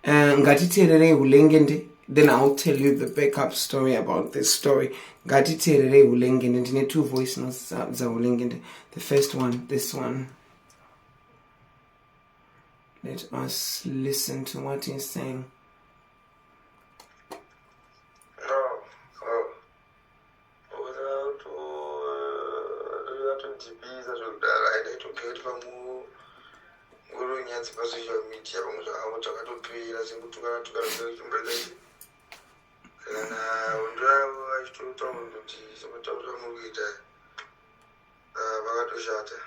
Eh, ngatiteererei hulengende then iwill tell you the backup story about this story ngatiteererei hulengende ndine two voice notes dzahulengende the first one this one let us listen to what he's saying zvatondibiza zvekudaro aida itogee kuti pamwe ngoro nyadzi pasocial media pamwe zvavo takatopera sekutukana tukana zvekuchimboita kana hondo yavo vachitotaura kuti sekuti takuta muri kuita vakatoshata uh,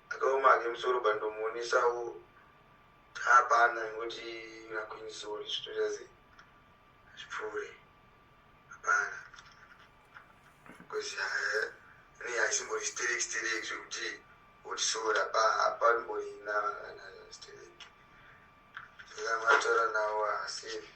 Akaoma hake musoro but ndomuonesawo hapana ingoti na queen sorry zvitoita sei zvipfuure hapana because eh, ne haisimbori sterek sterek zvekuti oti sorry apa apanomborina kana sterek saka mataura nawo hasefi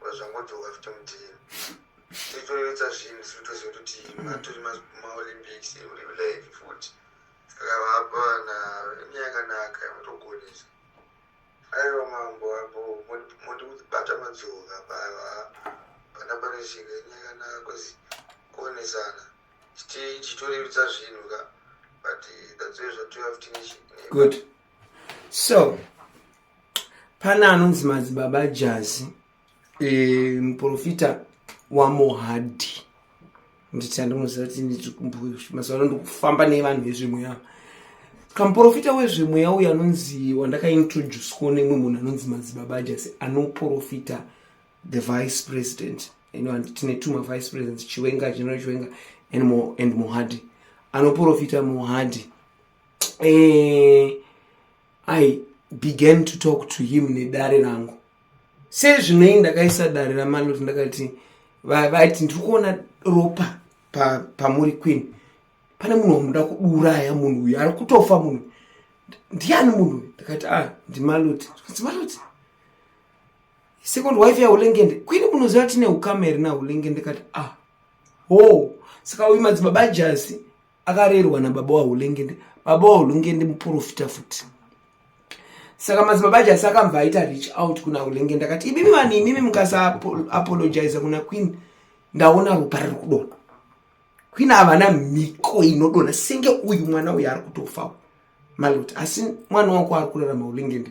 wazvangodzoka futi mudii tichitoyotsa zvinhu sitoziva kuti matori maolympics uri live futi saka vapa na yakanaka mutogonesa aiwa mambo apo mondibata madzoka pava pana pane zvinhu yakanaka bcause kuonesana chitorevitsa zvinhu ka but that's why zvatouya futi nechi good so pane anonzi madzibaba jazi e, muprofita wamohadhi nditi andinoziva kuti nditi kumbuyo mazuva ano ndikufamba nevanhu vezvemweya kamuprofita wezvemweya uyo anonzi wandakaintroduceko nemwe munhu anonzi madzibaba jasi anoprofita the vice president ino and tine tuma vice president chiwenga general chiwenga and, mo, and mohadi anoprofita mohadi e, i began to talk to him nedare rangu sezvinei ndakaisa dare ramaloti ndakati vaiti ndiri kuona ropa pamuri pa queen pane munhu wamuda kuuraya munhu uyu ari kutofa munhu ndiani munhu uyu ndakati a ah, ndimaloti zvikanzi maloti second wife yaulengende kwini munoziva tine ukama here naulengende kati a ah, ho saka uyu madzibaba jasi akarerwa nababa wahulengende baba wahulengende muprofita futi saka madzibaba jasi akambva aita reach out kuna hulengende akati imimi vanhu imimi mukasaapologiza kuna queen ndaona ropa riri kudona queen havana mhiko inodona senge uyu mwana uyu ari kutofawo malot asi mwana wako ari kurarama hulengende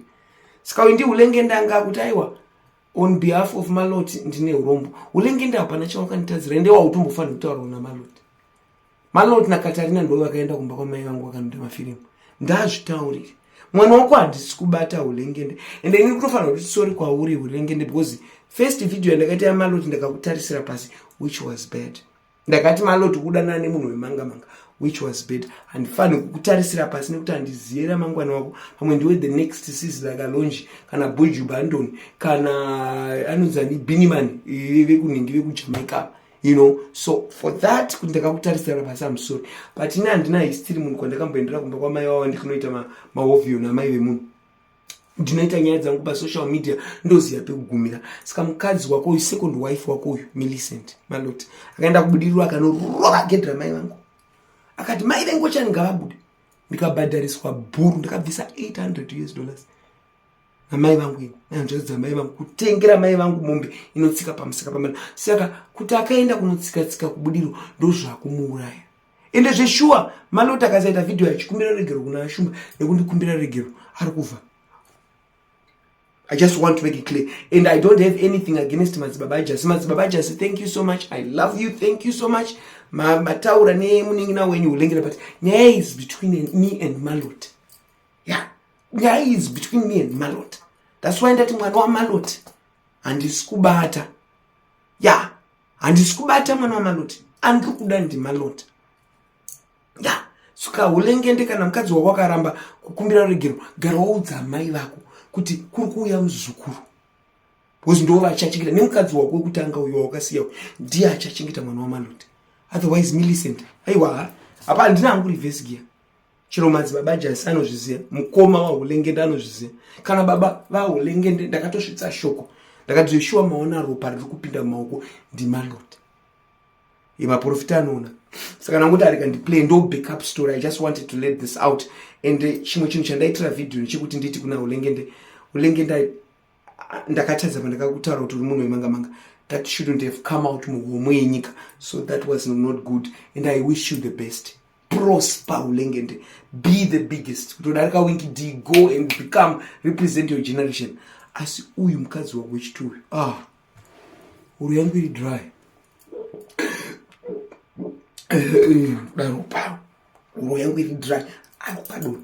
saka uyu ndi hulengende anga akuti aiwa on behalf of malot ndine urombo hulengende hapana chawakanditadzira ende wautombofanira kutaurawo namalot Malord na Katarina ndo vakaenda kumba kwa mai vangu vakanota mafirimu. Ndazvitaurire. Mwana wako handisi kubata hulengende. Ende ini kutofanira kuti sorry kwauri hulengende because first video yandakaita ya Malord ndakakutarisira pasi which was bad. Ndakati Malord kudana ne munhu wemanga manga which was bad. Handifanire kukutarisira pasi nekuti handiziyera mangwana wako. Pamwe ndiwe the next sis like Alonji kana Buju Bandon kana anozani Biniman vekunhingi vekujamaica. Kana you know so for that kuti ndakakutarisira pasi am sorry but ini handina history munhu kwandakamboendera kumba kwamai vavo ndikanoita maovio namai vemunhu ndinoita nyaya dzangu pasocial media ndoziva pekugumira saka mukadzi wako uyu second wife wako uyu millicent malot akaenda kubudiriro akanorova gedhi ramai vangu akati mai vengu chani ngavabude ndikabhadhariswa bhuru ndakabvisa 800 us dollars namai vangu ini nanzvadzi dzamai vangu kutengera mai vangu mombe inotsika pamusika pamana saka kuti akaenda kunotsika tsika kubudiro ndozvakumuuraya ende zveshuwa maloti akasaita vhidhiyo achikumbira regero kuna ashumba nekundikumbira regero ari kuva I just want to make it clear. And I don't have anything against Madzibaba Jasi. Madzibaba Jasi, thank you so much. I love you. Thank you so much. Mataura ne muningi na wenyu ulengera but nyaya is between me and Malot. ya nyaya is between me and malot thats why ndati mwana wamalot handisi kubata ya handisi kubata mwana wamalot andiri kuda ndimalot ya suka hulengende kana mukadzi wako akaramba kukumbira ruregero gara waudza amai vako kuti kuri kuuya muzukuru bcause ndo vachachengeta nemukadzi wako wekutanga uyo wakasiya ndiye achachengeta mwana wamalot otherwise milicent aiwa hapa handina hangu revesi giya chero madzibaba jasi anozviziva mukoma wahulengende anozviziva kana baba vahulengende ndakatosvitsa shoko ndakadzveshuwa maona ropa riri kupinda mumaoko ndimaloti yemaprofita anoona saka nangoti arika ndiplay ndo backup story i just wanted to let this out and eh, chimwe chinhu chandaitira vhidhiyo nechekuti nditi kuna hulengende hulengende ndakatadza pandakakutaura kuti uri munhu wemanga manga that shouldn't have come out muhomwe yenyika so that was not good and i wish you the best prosper hulengende be the biggest kutodarika winki d go and become represent your generation asi uyu mukadzi wako wechiti uyu ah uru yangu iri dry daro paro uru yangu iri dry ari padoni